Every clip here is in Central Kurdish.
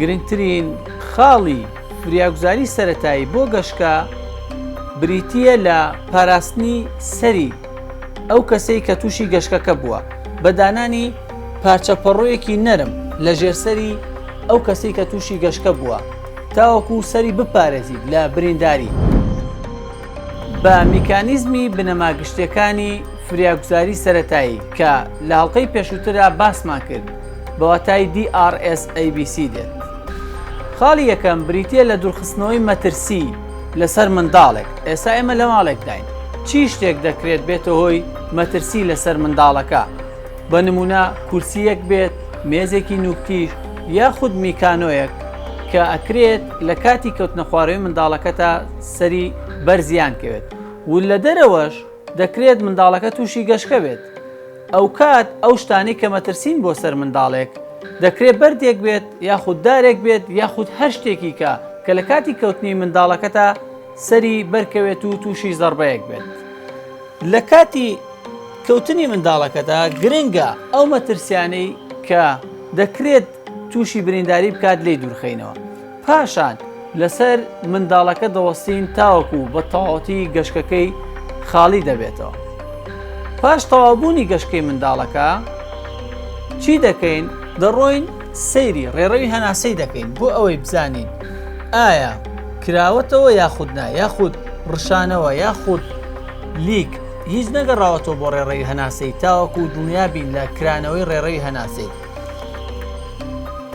گرنگترین خاڵی فریاگوزاری سەتایی بۆ گەشتکە بریتە لە پاراستنی سەری ئەو کەسەی کە تووشی گەشتەکە بووە بە دانانی پارچە پەڕۆیەکی نەرم لە ژێرسەری ئەو کەسی کە تووشی گەشتکە بووە تاوەکو سەری بپارێزیت لە برینداری. بە میکانیزمی بنەما گشتیەکانی فریاگوزاری سەرەتایی کە لە هەڵقەی پێشووترا باسمان کرد بە واتای DRSABC دێت. خاڵی یەکەم بریتە لە دوورخستنەوەی مەترسی لەسەر منداڵێک ئێستا ئێمە لە ماڵێکداین چی شتێک دەکرێت بێتە هۆی مەترسی لەسەر منداڵەکە بە نمونە کورسیەک بێت مێزێکی نوکتیش یاخود میکانۆیەک کە ئەکرێت لە کاتی کەوتنە خوارەوەی منداڵەکەتا سەری بەر زیان کەوێت و لە دەرەوەش دەکرێت منداڵەکە تووشی گەشکە بێت ئەوکات ئەو شتانەی کە مەترسین بۆ سەر منداڵێک دەکرێت بەردێک بێت یاخود دارێک بێت یاخود هەر شتێکی کە کە لە کاتی کەوتنی منداڵەکەتا سەری بەرکەوێت و تووشی زەربەیەک بێت لە کاتی کەوتنی منداڵەکەدا گرنگە ئەو مەترسیانەی کە دەکرێت تووشی برینداری بکات لی دوورخینەوە پاشان لەسەر منداڵەکە دەوەستین تاوەکو بە تەواوەتی گەشکەکەی خاڵی دەبێتەوە. پاش تەواوبوونی گەشکەی منداڵەکە چی دەکەین؟ دەڕۆین سەیری ڕێڕەوی هەناسەی دەکەین بۆ ئەوەی بزانین ئایا کراوەتەوە یاخود نا، یاخود ڕشانەوە یاخود لیک هیچ نەگەڕاوەتەوە بۆ ڕێڕەوی هەناسەی تاوەکو دڵنیابین لە کرانەوەی ڕێڕەوی هەناسەی.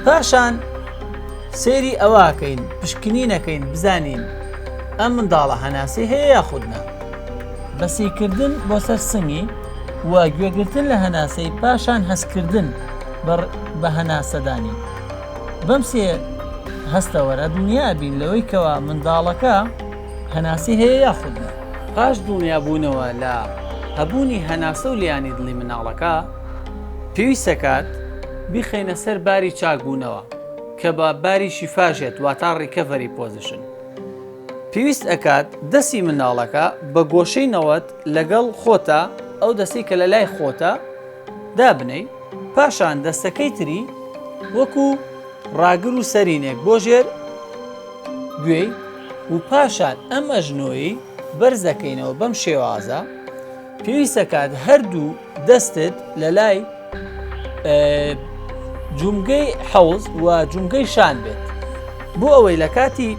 پاشان سەیری ئەوەکەین پشکنینەکەین بزانین ئەم منداڵە هەناسەی هەیە یاخودنا بەسیکردن بۆ سەر سنگی و گوێگرتن لە هەناسەی پاشان هەستکردن بە هەناسەدانی بەم سێ هەستەوەرە دنیا بین لەوەی کەوا منداڵەکە هەناسی هەیە یاخودنا پاش دڵنیابوونەوە لە هەبوونی هەناسە و لیانی دڵی مناڵەکە پێویست دەکات بیخەینە سەر باری چاک بوونەوە کە بە باری شیفاش یەت واتا ڕیکەڤەری پۆزیشن پێویست ئەکات دەسی منداڵەکە بە گۆشەی نەوەت لەگەڵ خۆتە ئەو دەستی کە لە لای خۆتە دابنەی پاشان دەستەکەی تری وەکو ڕاگر و سەرینێک بۆ ژێر گوێی و پاشان ئەم ئەژنۆی بەرزەکەینەوە بەم شێوازە پێویست دەکات هەردوو دەستت لە لای جومگەی حەوز و جومگەی شان بێت بۆ ئەوەی لە کاتی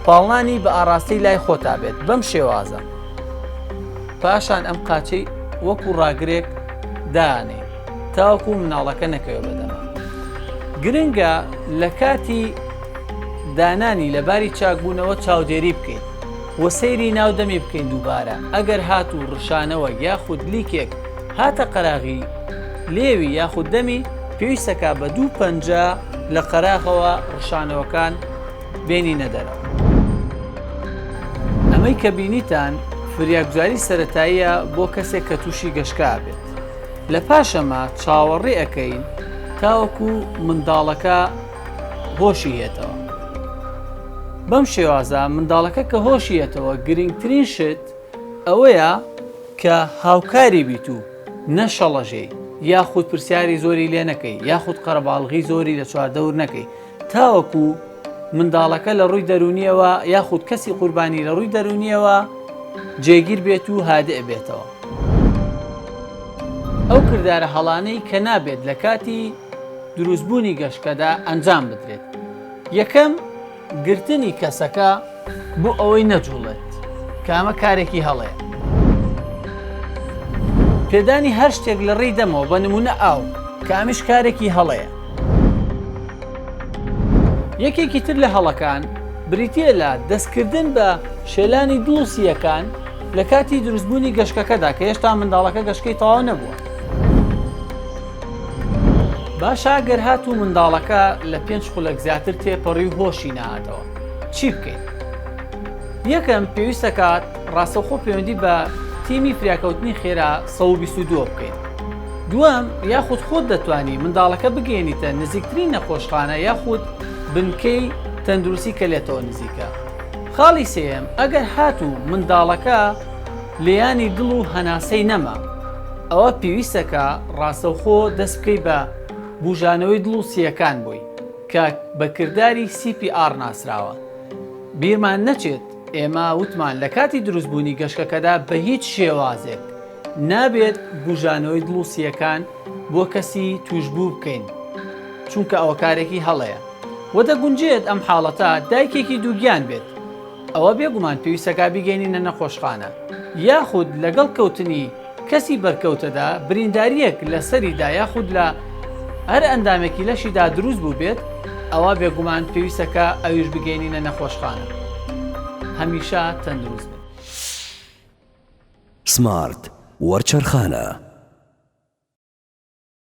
پاڵنانی بە ئاراستەی لای خۆتا بێت بەم شێوازە پاشان ئەم قاچەی وەکو ڕاگرێک دانێ تاوەکو مناڵەکە نەکەوێ بەدەما گرنگە لە کاتی دانانی لە باری چاکبوونەوە چاودێری بکەیت وە سەیری ناو دەمی بکەین دووبارە ئەگەر هاتوو ڕشانەوەک یاخود لیکێک هاتە قەراغی لێوی یاخود دەمی پێویستەکا بە دوو پەنجە لە قەراغەوە ڕشانەوەکان بێنینە دەرەوە. ئەمەی کە بینیتان فریاگوزاری سەرەتاییە بۆ کەسێک کە تووشی گەشکە ئەبێت لە پاشەمە چاوەڕێ ئەکەین تاوەکو منداڵەکە. هۆشی یەتەوە بەم شێوازە منداڵەکە کە هۆشی یەتەوە گرنگترین شت ئەوەیە کە هاوکاری بیت و نەشەڵەژێ یاخود پرسیاری زۆری لێ نەکەی یاخود قەرەباڵغی زۆری لە چواردەور نەکەی تاوەکو منداڵەکە لە ڕووی دەرونیەوە یاخود کەسی قوربانی لە ڕووی دەرونیەوە جێگیر بێت و هادئ بێتەوە ئەو کردارە هەڵانەی کە نابێت لە کاتی دروستبوونی گەشکەدا ئەنجام بدرێت یەکەم گرتنی کەسەکە بۆ ئەوەی نەجوڵێت کامە کارێکی هەڵەیە پێدانی هەر شتێک لە ڕێی دەمەوە بە نمونە ئاو کامیش کارێکی هەڵەیە یەکێکی تر لە هەڵەکان بریتە لە دەستکردن بە شێلانی دووسیەکان لە کاتی دروستبوونی گەشکەکەدا کە هێشتا منداڵەکە گەشکەی تەواو نەبووە باشە گەر هاتوو منداڵەکە لە پێنج خولەک زیاتر تێپەڕی و هۆشی نەهاتەوە چی بکەین؟ یەکەم پێویستەکات ڕاستەوخۆ پەیوەندی بە تیمی فریاکەوتنی خێرا 122 بکەیت دووەم یاخود خۆت دەتوانی منداڵەکە بگەێنیتە نزیکترین نەخۆشخانە یاخود بنکەی تەندروستی کە لێتەوە نزیکە خاڵی سێم ئەگەر هاتوو منداڵەکە لیانی دڵ و هەناسەی نەما ئەوا پێویستە کە ڕاستەوخۆ دەست بکەیت بە بووژانەوەی دڵ و سییەکان بۆی کە بە کرداری سی پی ئاڕ ناسراوە. بیرمان نەچێت ئێمە وتمان لە کاتی دروستبوونی گەشکەکەدا بە هیچ شێوازێک نابێت بووژانەوەی دڵ و سییەکان بۆ کەسی تووشبوو بکەین چونکە ئەوە کارێکی هەڵەیە و دەگونجێت ئەم حاڵەتە دایکێکی دووگیان بێت ئەوە بێگومان پێویستە کە بیگەینینە نەخۆشخانە یاخود لەگەڵ کەوتنی کەسی بەرکەوتەدا بریندارییەک لە سەریدا یاخود لە هەر ئەندامێکی لەشیدا دروست بووبێت، ئەوا بێگومان پێویستە کە ئەویش بگەینینە نەخۆشخانە. هەمیشە تەندروست بن. سمارت وەرچەرخانە.